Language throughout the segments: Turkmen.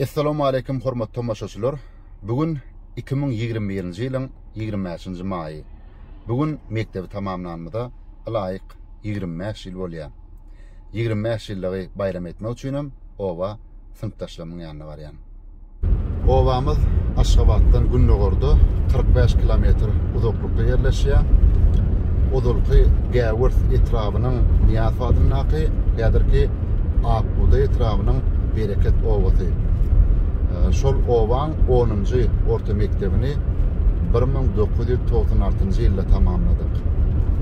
Essalamualeýkum hormatly tomaşaçylar! Bu gün iki müň ýigrimi birinji ýylyň ýigrimi bäşinji maýy. Bu gün mekdebi tamamlanymyza ylaýyk ýigrimi bäş ýyl bolýar. Ýigrimi bäş ýyllygy baýram etmek üçinem oba synpdaşlarymyň ýanyna barýan. Obamyz Aşgabatdan gündogarda kyrk bäş kilometr uzaklykda ýerleşýär. Ozalky Gäwers etrabynyň Nyýazow adyndaky, häzirki Ak bugdaý etrabynyň Bereket obasy. Şol obaň onunjy orta mekdebini bir müň dokuz ýüz togsan altynjy ýylda tamamladyk.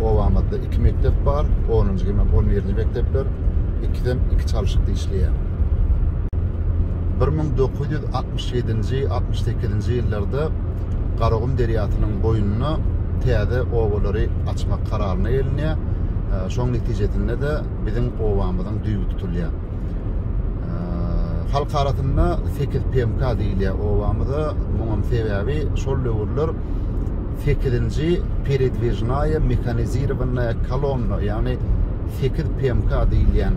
Obamyzda iki mekdep bar, onunjy hem on birinji mekdepler, ikisem iki çalşykda işleýär. Bir müň dokuz ýüz altmyş ýedinji, altmyş sekizinji ýyllarda Garagum derýasynyň boýunda täze obalary açmak kararyna gelinýär. Şoň netijesinde-de biziň obamyzyň düýbi tutulýar. Halk arasynda Sekiz PMK diýilýär obamyza. Muňam sebäbi şol döwürler sekizinji peredwižnaýa mehanizirowanyýa kolonna, ýagny Sekiz PMK diýilýän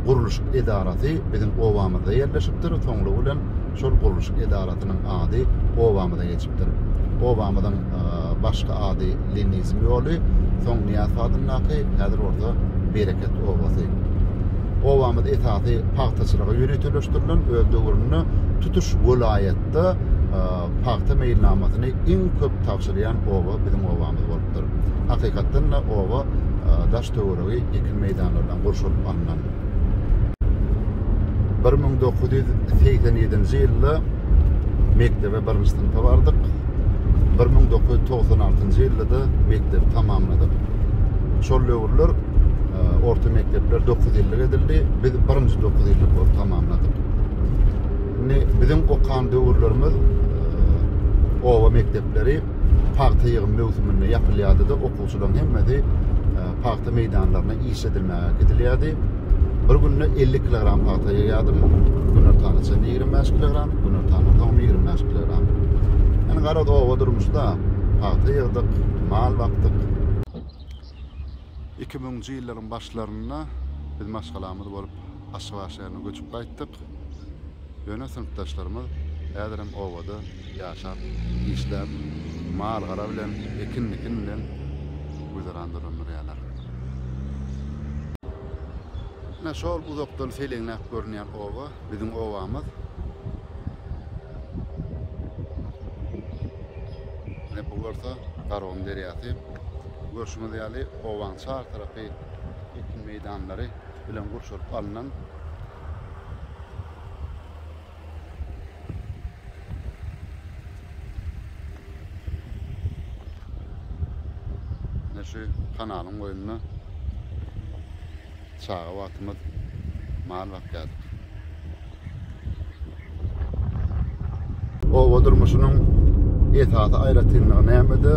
gurluşyk edarasy biziň obamyzda ýerleşipdir. Soňlugy bilen Şol gurluşyk edarasynyň ady obamyza geçipdir. Obamyzyň başky ady Lenizm ýoly, soň Nyýazow adyndaky, häzir bolsa Bereket obasy. Obamyz esasy pagtaçylyga ýöriteleşdirilen, öz döwründe tutuş welaýatda pagta meýilnamasyny iň köp tabşyrýan oba biziň obamyz bolupdyr. Hakykatdan-da, oba daş-töweregi ekin meýdanlardan gurşalyp alnan. Bir müň dokuz ýüz segsen ýedinji ýylda mekdebe birinji synpa bardyk. Bir müň dokuz ýüz togsan altynjy ýylda-da mekdebi tamamladyk. Şol döwürler e, orta mekdepler dokuz ýyllyk edildi. Biz birinji dokuz ýyllyk bolup tamamladyk. Indi biziň okan döwürlerimiz e, oba mekdepleri pagta ýygym möwsüminde ýapylýardy-da, okuwçylaryň hemmesi e, pagta meýdanlaryna iş edilmäge gidilýärdi. Bir günde 50 kilogram pagta ýygýardym. Günortana çen 25 kilogram, günortana soň 25 kilogram. Yani garaz oba durmuşda pagta ýygdyk, mal bakdyk. 2000-nji ýyllaryň başlarynda biz maşgalamyz bolup Aşgabat şäherine göçüp gaýtdyk. Ýöne synpdaşlarymyz häzirem obada Ýaşap, işläp, mal-gara bilen, ekin-dikin bilen güzeran dolandyrýarlar. Ine, şol uzakdan seleňläp görünýän oba, biziň obamyz. Ine, bu bolsa Garagum derýasy. Görşüňiz ýaly, obanyň çar tarapy ekin meýdanlary bilen gurşalyp alnan. şu kanalyň boýunda çaga wagtymyz mal bakýardyk. Oba durmuşynyň esasy aýratynlygy nämede?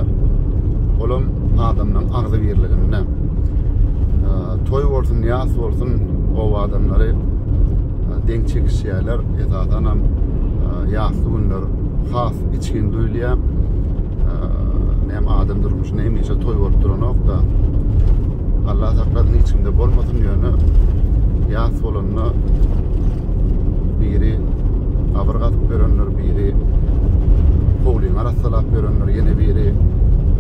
Olam adamlaryň agzybirliginde. Toý bolsun, ýas bolsun, oba adamlary deň çekişýärler. Esasan hem ýasly günler has içgin duýulýar. Näme adam durmuşynda hemişe toý bolup duranok-da. Allah saklasyn hiç kimde bolmasyn ýöne ýas bolanda biri abyr gazyp berenler, biri howlyny arassalap berenler, ýene biri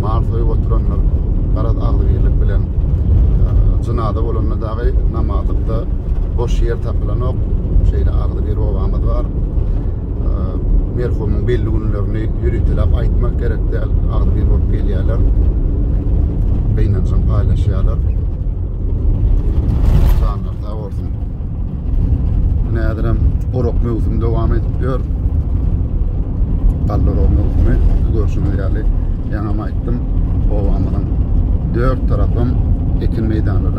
mal soýup oturanlar, garaz agzybirlik bilen jynada bolanda da Gaýyp namazlykda boş ýer tapylanok. Şeýle agzy bir obamyz bar. Merhumyň belli günlerini ýöritelap aýtmak gerek däl. Agzy bir bolup gelýärler. Gynanjyň paýlaşýarlar. Janlar sag bolsun. Näzirem orak möwsümi dowam edip ýör. Galla orak möwsümi görşüňiz ýaly ýaňam aýtdym. Obamyzyň dört tarapym ekin meýdanlary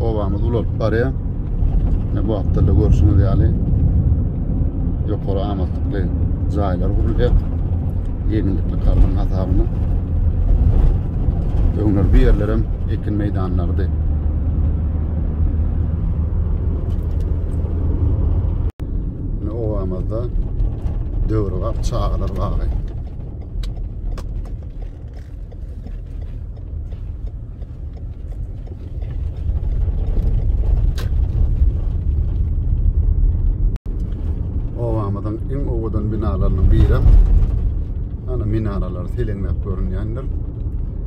Obamız ulalyp barýar. Ne bu hafta da görüşüňiz ýaly ýokary amatly jaýlar gurulýar. Ýeňillikli kardyň hasabyna. Öňler bir ýerlerem ekin meýdanlarydy. Ine obamyzda döwrebap çagalar bagy. Obamyzyň iň owadan binalarynyň biri. Ana minaralar selenläp görünýändir.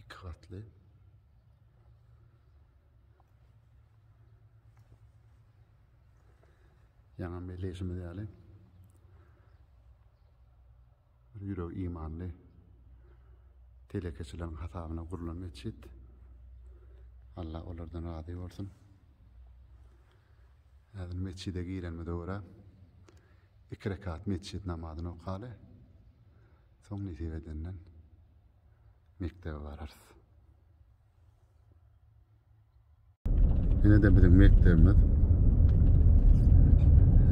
Iki gatly. Ýaňa meleşimiz ýaly. Ýürek imanly. Telekeçileriň hasabyna gurlan meçit. Allah olardan razy bolsun. Häzir metjide girenimize görä, iki rekat metjit namazyny okaly. Soň nesip edenden mekdebe bararys. Ýene de biziň mekdebimiz.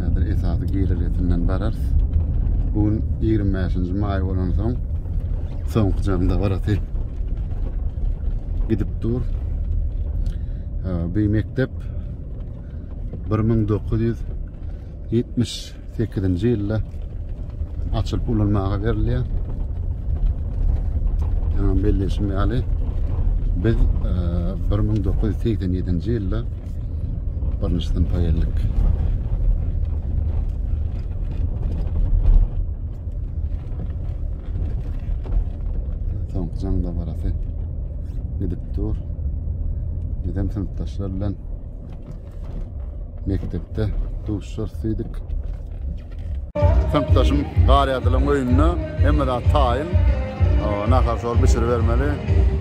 Häzir esasy girelgesinden bararys. Bu gün 25-nji maý bolan soň soňky jamda barasy gidip dur. Ee, bir mektep 1978-nji ýylda açylyp ulanmaga berilýär. Ýa belleşim ýaly biz 1987-nji ýylda birinji synpa geldik. Soňky jaň dabarasy. gidip dur. Bizem synpdaşlar bilen mekdepde duşar sidik. Synpdaşym Garyadylan öýünde hemme zat taýyn. Nahar şol bişir bermeli.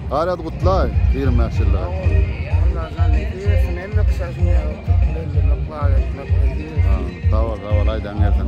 Garyad gutlay 25 ýylda. Sağ ol, sağ ol, aydan gelsin.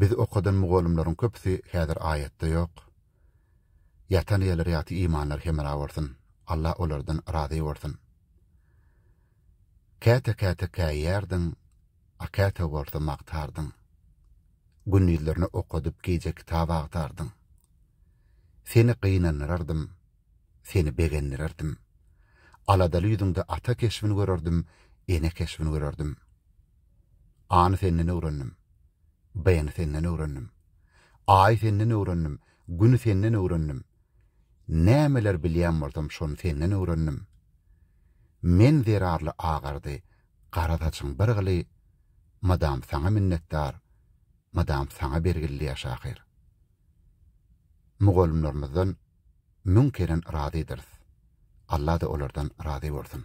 Biz okadan mugallymlaryň köpüsi häzir aýatda ýok. Ýatan ýerleri ýagty imanlary hemra bolsun. Allah olardan razy bolsun. Käte käte käýýärdiň, a käte bolsa magtardyň. Gündizlerine okadyp gije kitap agtardyň. Seni gynandyrardym, seni begendirerdim. Aladaly ýüzüňde ata keşbini görerdim, ene keşbini görerdim. A-ny senden öwrendim. B-ni senden öwrendim. A-y senden öwrendim, güni senden öwrendim. Nämeler bilýän bolsam şony senden öwrendim. Men zerarly agardy, gara saçyň bir gyly, mydam saňa minnetdar, mydam saňa bergilli ýa şahyr. Mugallymlarymyzdan müň keren razydyrys. Alla-da olardan razy bolsun.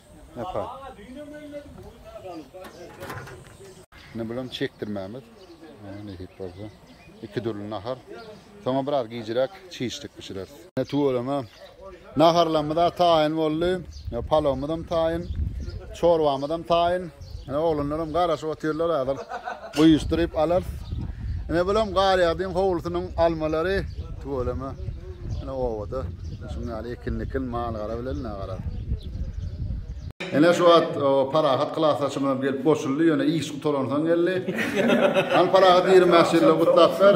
Napa. Indi bulam çekdirmämiz. Nesip bolsa. Iki dürli nahar. Soňa biraz gijirek çişlik bişireris. Ne tuweleme. Naharlarymyz da taýyn boldy. Palawymyz hem taýyn. Çorbamyz hem taýyn. Ine oglanlaram garaşyp otyrlar azal. Guýuşdyryp alar. Ine bulam Garýagdyň howlusynyň almalary. Tüweleme. Ine obada. Şuň ýaly ekinlikin mal-gara bilen nagara. Ine şu wagt Parahat klasdaşymyzam gelip goşuldy, ýöne iş gutaransoň geldi. Hany Parahat ýigrimi bäş ýyllygy gutlap ber.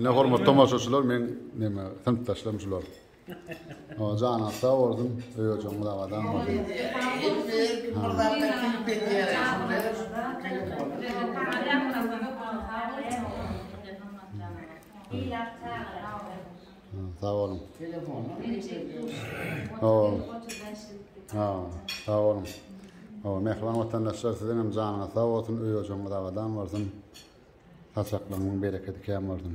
Ine hormat tomaşaçylar men neme synpdaşlarym şular. O jana sag bolsun. Öýejoňyz abadan bolsun. Thank you. Sag olun. Telefonda Sag olun. O, mehriban vatandaşlar siziň hem janyňyz sag bolsun, öý ojagyňyz abadan bolsun. Saçaklygyň bereketi kän bolsun.